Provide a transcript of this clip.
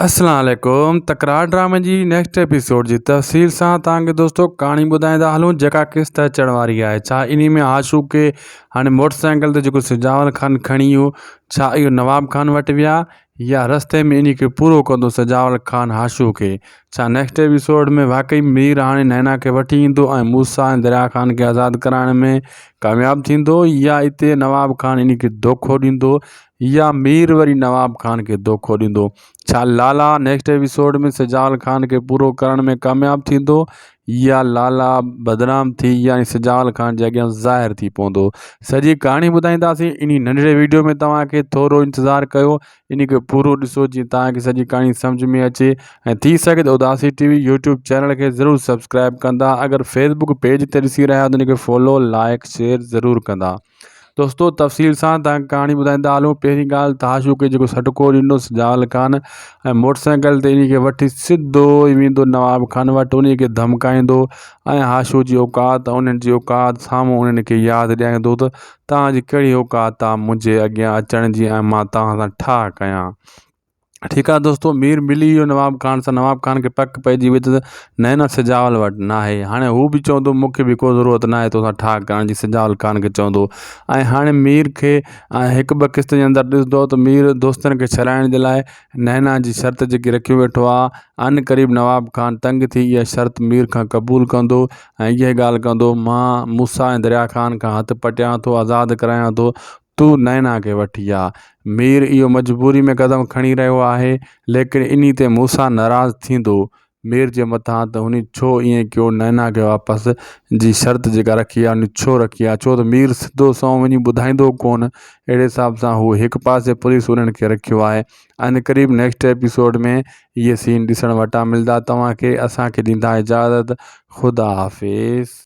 اسلام عليڪم تڪرار ڊرامي جي نيڪسٽ ايپيسوڊ جي تفصيل سان توهان کي دوستو ڪهاڻي ٻڌائيندا هلون جيڪا قسط اچڻ واري آهي ڇا انهي ۾ عاشوق کي هاڻي موٽر سائيڪل تي جيڪو سجاول خان کڻي ويو ڇا اهو نواب خان وٽ ويا يا رستي ۾ انهي کي پورو ڪندو سجاول خان عاشوق کي ڇا نيڪسٽ ايپيسوڊ ۾ واقعي مير هاڻي نينا کي وٺي ايندو ۽ موسيٰ ۽ دريا خان کي آزاد ڪرائڻ ۾ ڪامياب ٿيندو يا اتي نواب خان انهي کي دوکو ڏيندو يا مير وري نواب خان کي دوکو ڏيندو؟ ڇا لالا نيڪسٽ ايپيسوڊ ۾ سجال خان کي پورو ڪرڻ ۾ ڪامياب ٿيندو يا لالا بدنام ٿي يعني سجال خان جي اڳيان ظاهر ٿي پوندو سڄي ڪهاڻي ٻڌائينداسين انهي ننڍڙي ويڊيو ۾ توهان کي ٿورو انتظار ڪيو انهي کي پورو ڏسو جيئن توهان کي سڄي ڪهاڻي سمجهه ۾ اچي ۽ ٿي سگهي ته اداسي ٽي وي يوٽيوب چينل کي ضرور سبسڪرائب ڪندا اگر فيسبوڪ پيج تي ڏسي رهيا آهيو ته ان کي فالو لائڪ شيئر ضرور ڪندا دوستو تفصيل سان تان ڪهاڻي ٻڌائيندا هلون پهرين ڳالهه ته هاشو کي جيڪو سڏڪو ڏنوس جال خان ۽ موٽر سائيڪل تي ان کي وٺي سڌو ئي ويندو نواب خان وٽ ان کي ڌمڪائيندو ۽ هاشو جي اوقات انهن جي اوقات سامهون انهن کي ياد ڏياريندو ته توهان جي ڪهڙي اوقات آ منهنجي اڳيان اچڻ جي ۽ مان توهان سان ٺاهه ڪيان ٺيڪ آ دوستو مير ملي ويو نواب خان سان نواب خان کي پڪ پئجي وئي ته نينا سجاول وٽ نه آهي هاڻي هو به چوندو مونکي به ڪو ضرورت نه آهي توسان ٺاهه ڪرڻ جي سجاول خان کي چوندو ۽ هاڻي مير کي هڪ ٻه قسط جي اندر ڏسندو ته مير دوستن کي ڇڏائڻ جي لاء نينا جي شرط جيڪي رکيون ويٺو آهي ان قريب نواب خان تنگ ٿي اها شرط مير کان قبول ڪندو ۽ اها ڳالهه ڪندو مان موسا ۽ دريا خان کان هٿ پٽيان ٿو آزاد ڪرايان ٿو تو نينا کي وٺي آ. مير اهو مجبوري ۾ قدم کڻي رهيو آهي. ليڪن انهي تي موسيٰ ناراض ٿيندو. مير جي مٿان ته هني ڇو ائين ڪيو نينا کي واپس جي شرط جيڪا رکي آ انهي ڇو رکي آ ڇو ته مير سڌو سنئون وڃي ٻڌائيندو ڪونه اهڙي حساب سان هو هڪ پاسي پوليس انهن کي رکيو آهي عين قريب نيڪسٽ ايپيسوڊ ۾ اهي سين ڏسڻ وٽان ملدا توهان کي اسان کي ڏيندا اجازت خدا حافظ.